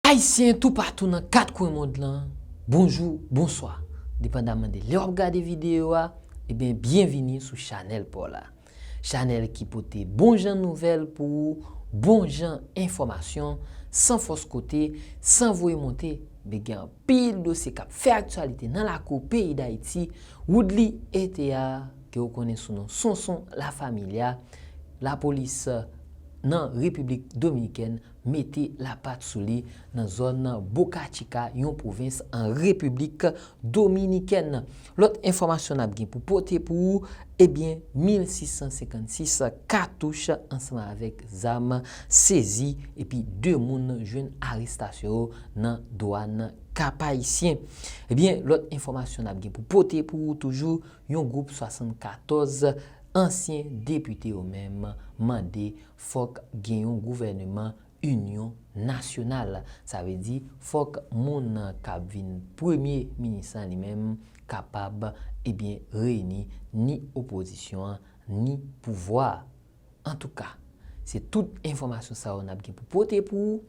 Ayisyen toupatou nan 4 kwen mond lan, bonjou, bonswa! Depandaman de lè w ap gade videyo a, eben byenvini sou chanèl pa w la. Chanèl ki pote bon jan nouvèl pou ou, bon jan enfòmasyon, san fòs kote, san voye monte, men gen anpil dosye k ap fè aktyalite nan lakou peyi Dayiti, Woodly Etea ke ou konnen sou non Sonson La Familia, Lapolis nan Repiblik Dominikèn mete lapat sou li nan zòn Boca Chica, yon pwovens an Repiblik Dominikèn. Lòt enfòmasyon n ap gen pou pote pou ou, ebyen 1656 katouch ansanm avèk zam sezi epi 2 moun jwenn arestasyon yo nan dwàn Kapayisyen. Ebyen lòt enfòmasyon n ap gen pou pote pou ou toujou, yon gwoup 74 ansyen depite yo menm mande Fòk gen yon gouvèneman inyon nasyonal. Sa vle di fòk moun nan k ap vin premye minis lan li menm kapab ebyen reyini ni opozisyon an ni pouvwa a. Antouka, se tout enfòmasyon sa yo n ap gen pou pote pou ou.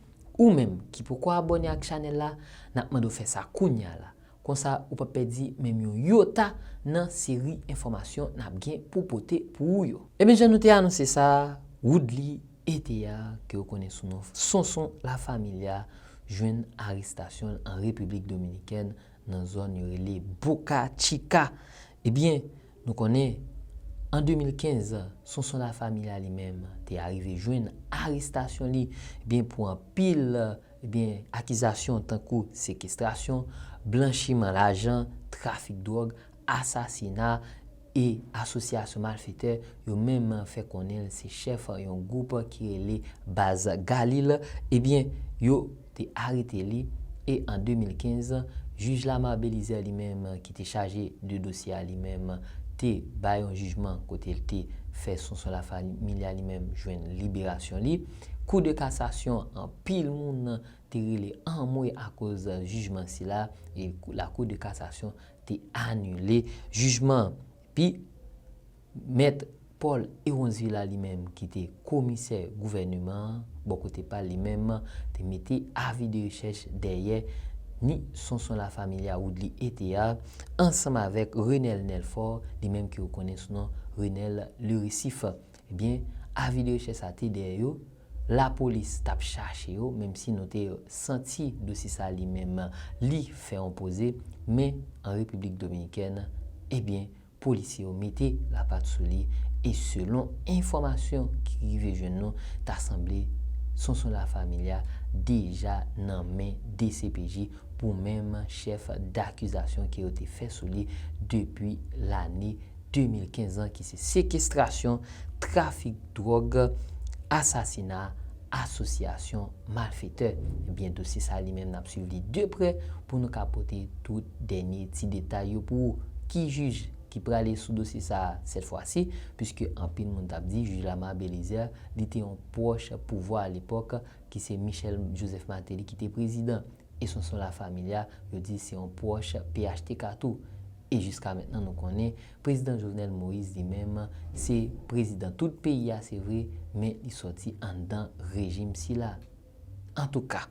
Ou menm ki poko abòne ak chanèl la, n ap mande w fè sa kounya la Konsa ou pap pèdi menm yon yota nan seri enfòmasyon nap gen pou pote pou ou yo. Ebyen jan nou te anonse sa, Woodly Ethéard ke yo konnen sou non Sonson La Familia jwenn arestasyon l an Repiblik Dominikèn nan zòn yo rele Boca Chica. Ebyen nou konnen an 2015 Sonson La Familia li menm te arive jwenn arestasyon li ebyen pou anpil Ebyen, akizasyon tankou sekestrasyon, blanchiman lajan, trafik dwòg, asasina e asosyasyon malfetè yo menm fè konnen l se chèf yon gwoup ki rele Baz Galil, ebyen, yo te arete li e an 2015, jij Lamar Belizaire li menm ki te chaje de dosye a li menm te bay yon jijman kote l te fè Sonson Lafamilia li menm jwenn liberasyon li. Kou de kasasyon anpil moun te rele anmwe akoz jijman sila e lakou de kasasyon te anile jijman an. Epi, mèt Paul Héronzvila li menm ki te komisè gouvèneman an, bò kote pa l li menm, te mete avi de rechèch dèyè ni Sonson La Familia Woodly Ethéard ansanm avèk Renel Nelfort li menm ke yo konnen sou non Renel Le Récif. Ebyen, avi de rechèch sa te dèyè yo, lapolis t ap chache yo, menm si nou te santi dosi sa li menm li fè yon poze, men an Repiblik Dominikèn, ebyen, polisye yo mete lapat sou li, e selon enfòmasyon ki rive jwenn nou, ta sanble Sonson La Familia deja nan men dcpj pou menm chèf dakizasyon ke yo te fè sou li depi lane 2015 lan ki se sekestrasyon, trafik dwòg, asasina, asosyasyon malfetè. Ebyen dosye sa li menm nap swiv li de prè pou nou ka pote tout dènye ti detay yo pou ou. Ki jij ki prale sou dosye sa sèt fwa si, puiske anpil moun tap di jij Lamar Belizaire li te yon pwòch pouvwa alepòk ki se Michel Joseph Martelly ki te prezidan. e Sonson La Familia yo di se yon pwòch phtk tou, e jiska mentnan nou konnen Prezidan Jovenel Moïse li menm se Prezidan tout peyi a se vre men li sòti anndan rejim sila. Antouka,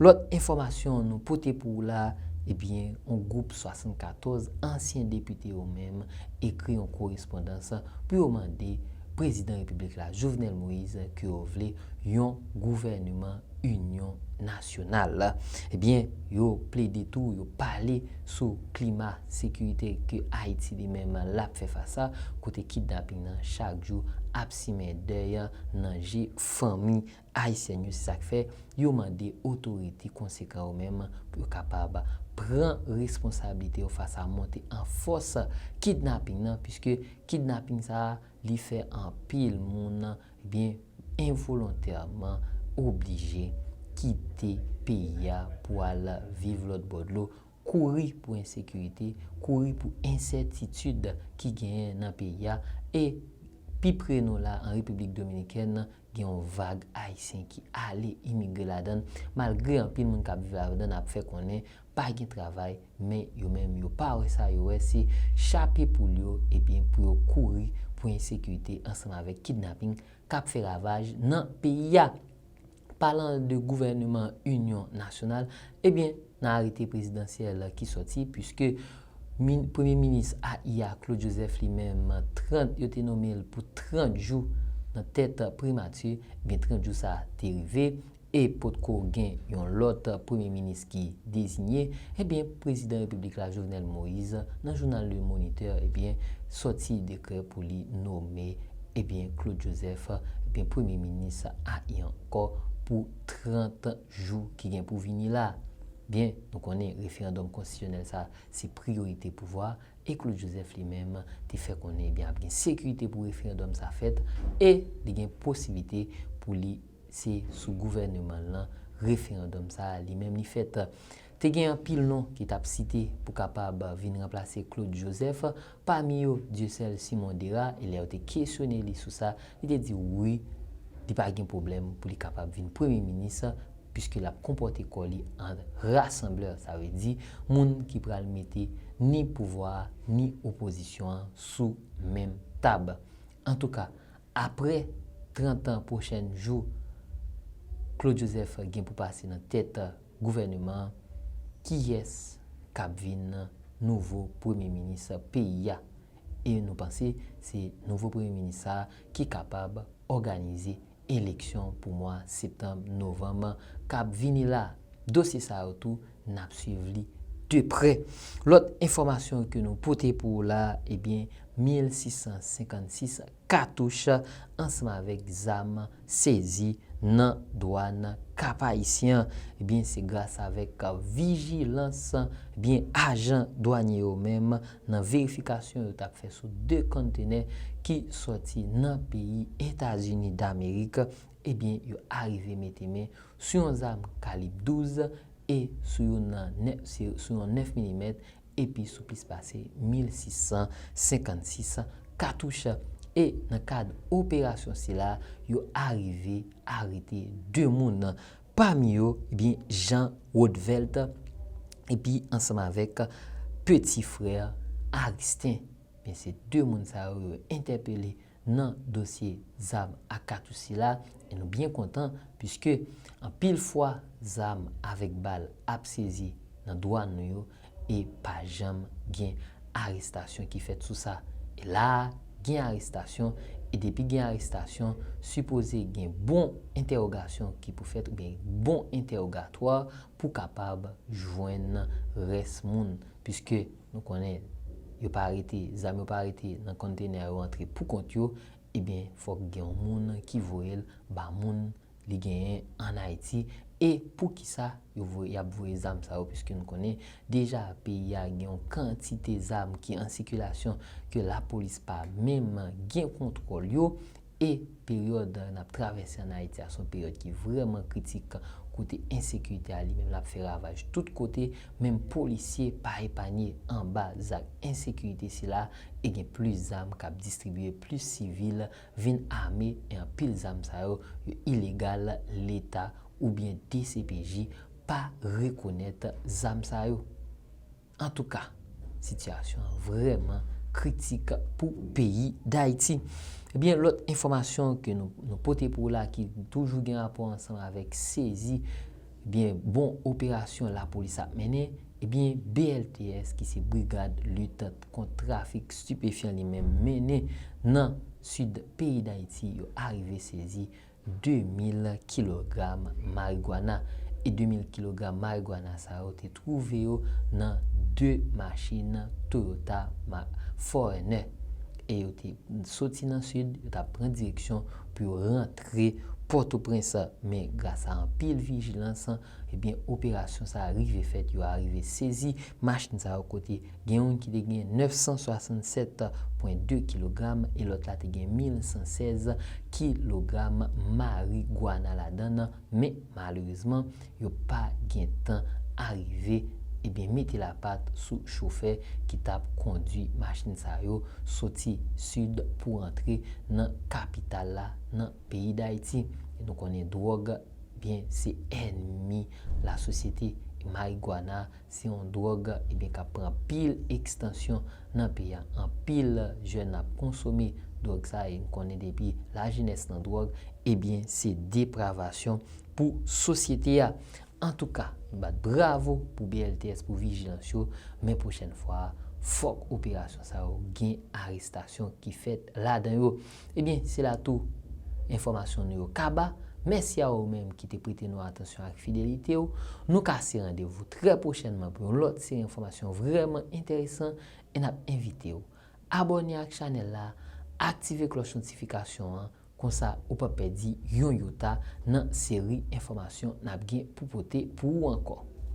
lòt enfòmasyon nou pote pou ou la, ebyen yon gwoup 74 ansyen depite yo menm ekri yon korespondans pou yo mande Prezidan Repiblik la Jovenel Moïse ke yo vle yon gouvèneman Inyon Nasyonal. Ebyen, yo plede tou, yo pale sou klima sekirite ke Ayiti li menm l ap fè fas a, kote kidnaping nan chak jou ap simen dèy nan je fanmi ayisyèn yo. Se sa k fè, yo mande otorite konsekan yo menm pou yo kapab pran responsablite yo fas a monte an fòs kidnaping nan, piske kidnaping sa a, li fè anpil moun byen envolontèman oblije kite peyi a pou al viv lòt bò dlo, kouri pou ensekirite, kouri pou ensètitid ki genyen nan peyi a e pi pre nou la an Repiblik Dominikèn gen yon vag Ayisyen ki ale imigre ladan l, malgre anpil moun k ap viv ladan l ap fè konnen pa gen travay, men yo menm yo pa wè sa, yo wè se chape poul yo ebyen pou yo kouri pou ensekirite ansanm avèk kidnaping k ap fè ravaj nan peyi a. Palan de gouvèneman inyon nasyonal, ebyen. nan arete prezidansyèl ki sòti, puiske min premye minis AI a, Claude Joseph li menm, 30 yo te nome l pou 30 jou nan tèt primati, ebyen 30 jou sa te rive e potko gen yon lòt premye minis ki dezinye, ebyen prezidan repiblik la Jovenel Moise nan jounal Le Moniteur ebyen sòti dekrè pou li nome ebyen Claude Joseph ebyen premye minis AI ankò pou 30. jou ki gen pou vini la. Byen nou konnen referandòm konstitisyonèl sa se priyorite pouvwa e Claude Joseph li menm te fè konnen ebyen ap gen sekirite pou referandòm sa fèt e li gen posiblite pou li se sou gouvèneman l lan referandòm sa li menm li fèt. Te gen anpil non ki t ap site pou kapab vin ranplase Claude Joseph, pami yo Dieuseul Simon Dera, e lè yo te kesyone li sou sa, li te di wi, li pa gen pwoblèm pou li kapab vin premye minis, puiske l ap konpòte kò li an rassembleur, sa vle di moun ki pral mete ni pouvwa a ni opozisyon an sou menm tab. Antouka, aprè 30 an pwochèn jou Claude Joseph gen pou pase nan tèt. Gouvèneman an, kiyès k ap vin nouvo premye minis peyi a? E nou panse se nouvo premye minis sa a ki kapab òganize eleksyon pou mwa septanm, novanm k ap vini la? Dosye sa yo tou n ap swiv li de prè. Lòt enfòmasyon ke nou pote pou ou la, ebyen 1656 katouch ansanm avèk zam sezi nan dwàn Kap-Ayisyen. Ebyen se gras avèk vijilans ebyen ajan dwanye yo menm nan verifikasyon yo tap fè sou 2 konntenè ki sòti nan peyi Etazini Damerik ebyen yo arive mete men sou yon zam kalib 12 e sou yon 9 milimèt epi sou plis pase 1,656 katouch e nan kad operasyon sila yo arive arete 2 moun pami yo ebyen Jean Rodvelt epi ansanm avèk peti frè Aristin ebyen se 2 moun sa yo yo entèpele nan dosye zam ak katouch sila e nou byen kontan puiske anpil fwa zam avèk bal ap sezi nan dwàn nou yo e pa janm gen arestasyon ki fèt sou sa. E la a gen arestasyon e depi gen arestasyon sipoze gen bon entèwogasyon ki pou fèt oubyen bon entèwogatwa pou kapab jwenn rès moun puiske Nou konnen yo pa rete, zam yo pa rete nan container yo antre pou kont yo, ebyen fok gen yon moun ki voyel ba moun li genyen an Ayiti e poukisa yo voye yap voye zam sa yo piske nou konnen deja peyi a gen yon kantite zam ki an sikilasyon ke lapolis pa menm gen kontwòl yo E peryòd n ap travèse ann Ayiti a se yon peryòd ki vrèman kritik kote ensekirite a li menm l ap fè ravaj tout kote, menm polisye pa epanye anba zak ensekirite sila e gen plis zam k ap distribye, plis sivil vin ame e anpil zam sa yo, yo ilegal, Leta oubyen dcpj pa rekonèt zam sa yo. Antouka, sitiyasyon an vrèman kritik pou peyi Dayiti. Ebyen, lòt enfòmasyon ke nou pote pou ou la ki toujou gen rapò ansanm avèk sezi, ebyen, bon operasyon lapolis ap mennen, ebyen, BLTS ki se Brigad Lit Kont Trafik Stipefyan li menm mennen nan Sid peyi Dayiti, yo arive sezi 2,000 kilogram marigwana e 2,000 kilogram marigwana sa yo te twouve yo nan 2 machin Toyota mak Foreigner e yo te soti nan Sid, yo t ap pran direksyon pou yo rantre Pòtoprens men gras a anpil vijilans ebyen operasyon sa rive fèt yo arive sezi machin sa yo kote. Gen youn ki te gen 967,2 kilogram e lòt la te gen 1,116 kilogram marigwana ladan l, men malerezman, yo pa gen tan arive ebyen mete lapat sou chofè ki t ap kondwi machin sa yo soti Sid pou rantre nan kapital la, nan peyi Dayiti. E nou konnen dwòg, byen se ènmi lasosyete e marigwana Se yon dròg ebyen kap pran anpil ekstansyon nan peyi a. Anpil jèn ap konsome dròg sa e nou konnen depi lajenès nan dròg ebyen se depravasyon pou sosyete a. Antouka nou bat bravo pou BLTS pou vijilans yo men pwochèn fwa fòk operasyon sa yo gen arestasyon ki fèt ladan yo. Ebyen, se la tou enfòmasyon nou yo kaba. Mèsi a ou menm ki te prete nou atansyon ak fidelite ou. Nou kase randevou trè pwochènman pou yon lòt seri enfòmasyon vrèman enteresan e n ap envite ou abòne ak chanèl la, aktive klòch notifikasyon an, konsa ou pap pèdi yon yota nan seri enfòmasyon n ap gen pou pote pou ou ankò.